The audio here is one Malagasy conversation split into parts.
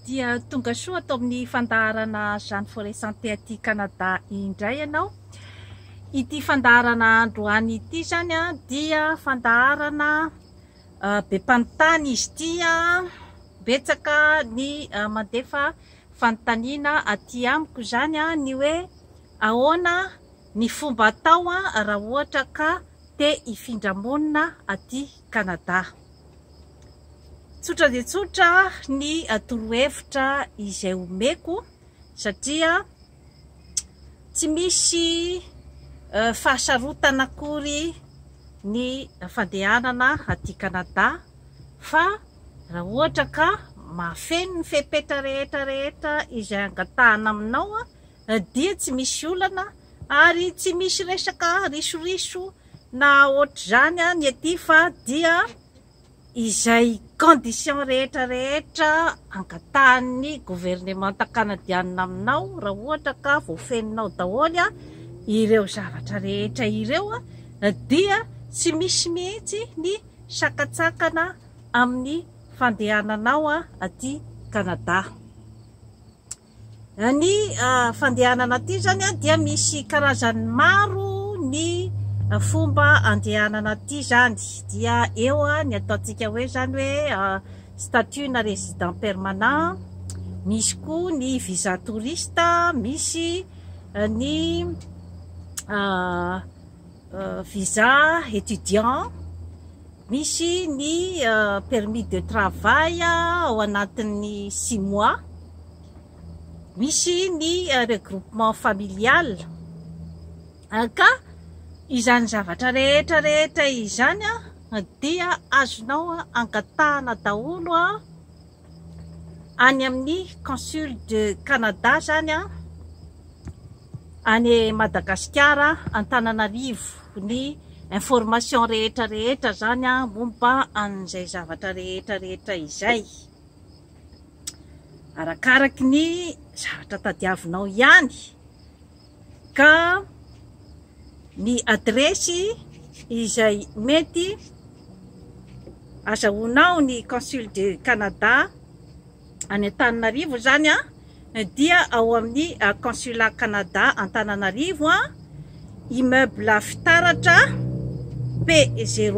Dia tonga soa ato amin'ny fandaharana Jeanne Forest Santé aty Canada indray ianao. Ity fandaharana androany ity izany dia fandaharana be mpanontany izy ity. Betsaka ny mandefa fanontaniana aty amiko izany ny hoe ahoana ny fomba atao raha ohatra ka te hifindra monina aty Canada. Tsotra dia tsotra ny torohevitra izay omeko satria tsy misy fahasarotana akory ny fandehanana aty Canada fa raha ohatra ka mahafeno ny fepetra rehetra rehetra izay angatahana aminao dia tsy misy olana ary tsy misy resaka risoriso Na ohatr'izany ny ety fa dia izay condition rehetra rehetra angatahan'ny governemanta kanadianina aminao raha ohatra ka voafeninao daholo ireo zavatra rehetra ireo dia tsy misy mihitsy ny sakantsakana amin'ny fandehananao aty Kanada. Ny fandehanana aty zany dia misy karazany maro ny fomba andehanana aty zany dia eo ny ataontsika hoe zany hoe statut na resident permanent, misy koa ny visa touriste, misy ny visa étudiant, misy ny permis de travail ao anatin'ny six mois, misy ny regroupement familial ka izany zavatra rehetra rehetra izany dia azonao angatahana daholo. any amin'ny Consul de Canada zany a, any Madagasikara Antananarivo ny information rehetra rehetra zany a momba an'izay zavatra rehetra rehetra izay, arakaraky ny zavatra tadiavinao ihany ka ny adiresy izay mety azahoanao ny Consul du Canada any Antananarivo izany a dia ao amin'ny Consulat Canada Antananarivo a immeuble fitaratra P0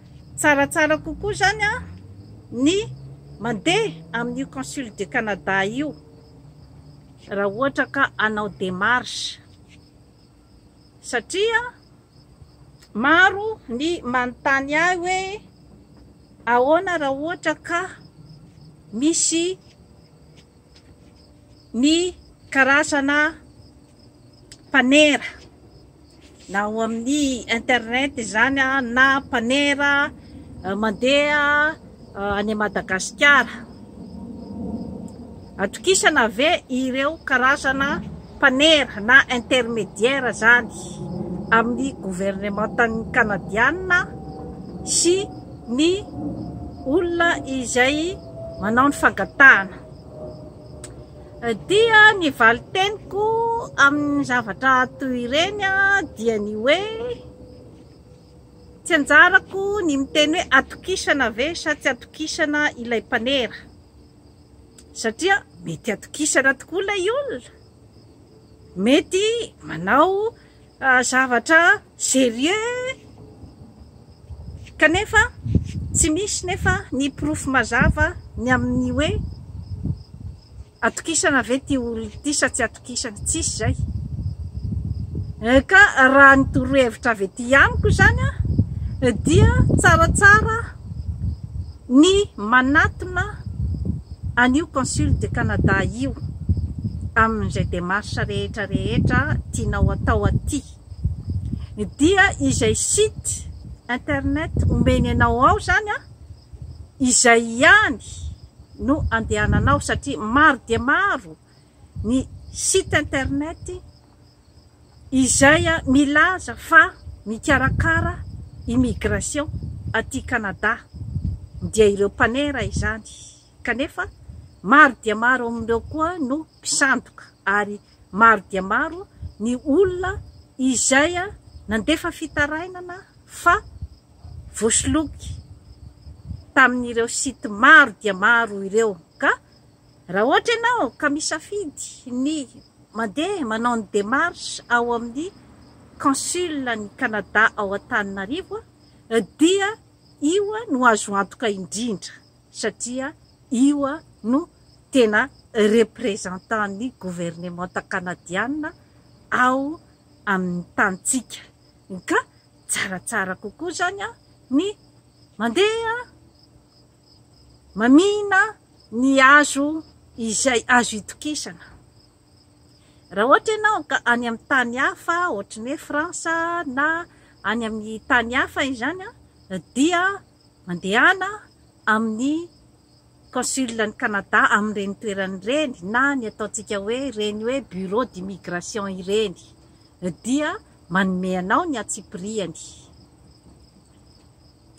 Tsaratsara kokoa izany an ny mandeha amin'io Consul du Canada io raha ohatra ka hanao démarche satria maro ny manontany ahy hoe ahoana raha ohatra ka misy ny karazana mpanera na ao amin'ny internet izany na mpanera eh, mandeha eh, any Madagasikara. Atokisana ve ireo karazana mpanera na intermédiaire zany amin'ny gouvernementan'ny Kanadianina sy ny olona izay manao ny fangatahana dia ny valin-teniko amin'ny zavatra toy ireny dia ny hoe tsy anjarako ny miteny hoe atokisana ve sa tsy atokisana ilay mpanera satria mety atokisana tokoa ilay olona mety manao Zavatra serieux kanefa tsy misy nefa ny porofo mazava ny amin'ny hoe atokisana ve ity olona ity sa tsy atokisana, tsisy izay ka raha ny torohevitra avy ety amiko izany dia tsaratsara Ny manatona an'io Consul de Canada io amin'izay démarche rehetra rehetra tianao atao aty dia izay site internet omeny anao ao zany an, izay ihany no andehananao satria maro dia maro ny site internet izay milaza fa mikarakara immigration aty Canada dia ireo mpanera izany kanefa maro dia maro amin'ireo koa no mpisandoka ary maro dia maro ny olona izay nandefa fitarainana fa voasoloky tamin'ireo site maro dia maro ireo ka raha ohatra ianao ka misafidy ny Mandeha manao ny démarche ao amin'ny consul an'i Canada ao Antananarivo dia io no azo antoka indrindra satria io no tena représentant ny gouvernementa Canadiana ao amin'ny tanintsika ka tsaratsara kokoa izany ny mandeha Mamihina ny azo izay azo itokisana. Raha ohatra ianao ka any amin'ny tany hafa ohatry ny hoe France na any amin'ny tany hafa izany dia mandehana amin'ny consul an'i Canada amin'ireny toerana ireny na ny ataontsika hoe ireny hoe bureau d'immigration ireny dia manome anao ny antsipiriany.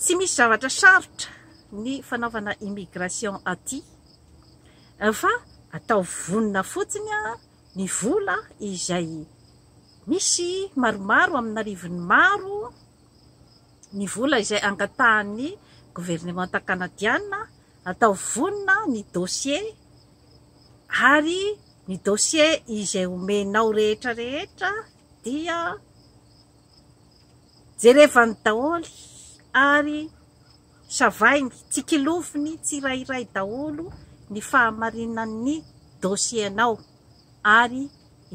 Tsy misy zavatra sarotra ny fanaovana immigration aty fa ataovy vonona fotsiny ny vola izay misy maromaro amin'arivony maro ny vola izay angatahan'ny governemanta kanadiana ataovy vonona ny dossier ary ny dossier izay omenao rehetra rehetra dia Jerevany daholo ary savainy, tsikiloviny tsirairay daholo ny fahamarinan'ny dossier-nao ary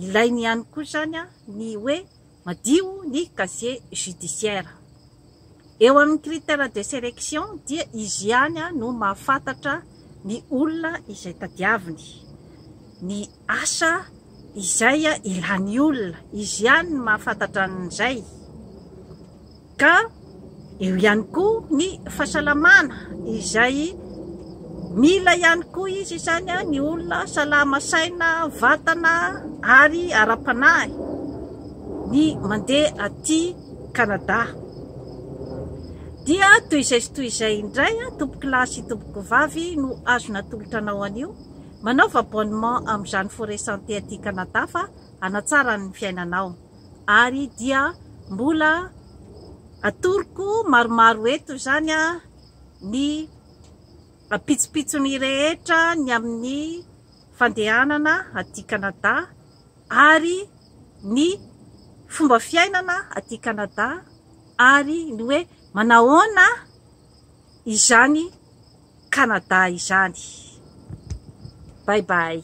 ilainy ihany koa izany ny hoe madio ny casier judiciaire. Eo amin'ny critère de sélection dia izy ihany no mahafantatra ny olona izay tadiaviny, ny Asa izay ilany olona, izy ihany no mahafantatra an'izay. Ka eo ihany koa ny fahasalamana izay mila ihany koa izy izany ny olona salama saina, vatana ary ara-panahy ny mandeha aty Canada. Dia toy izay sy toy izay indray tompokolahy sy tompokovavy no azo natolotra anao anio Manaova abonnement amin'izany Forêt Santé aty Canada fa hanatsara ny fiainanao. Ary dia mbola atoroko maromaro eto izany ny pitsopitsony rehetra ny amin'ny fandehanana aty Canada ary ny fomba fiainana aty Canada ary ny hoe manahoana izany Canada izany. Bye bye.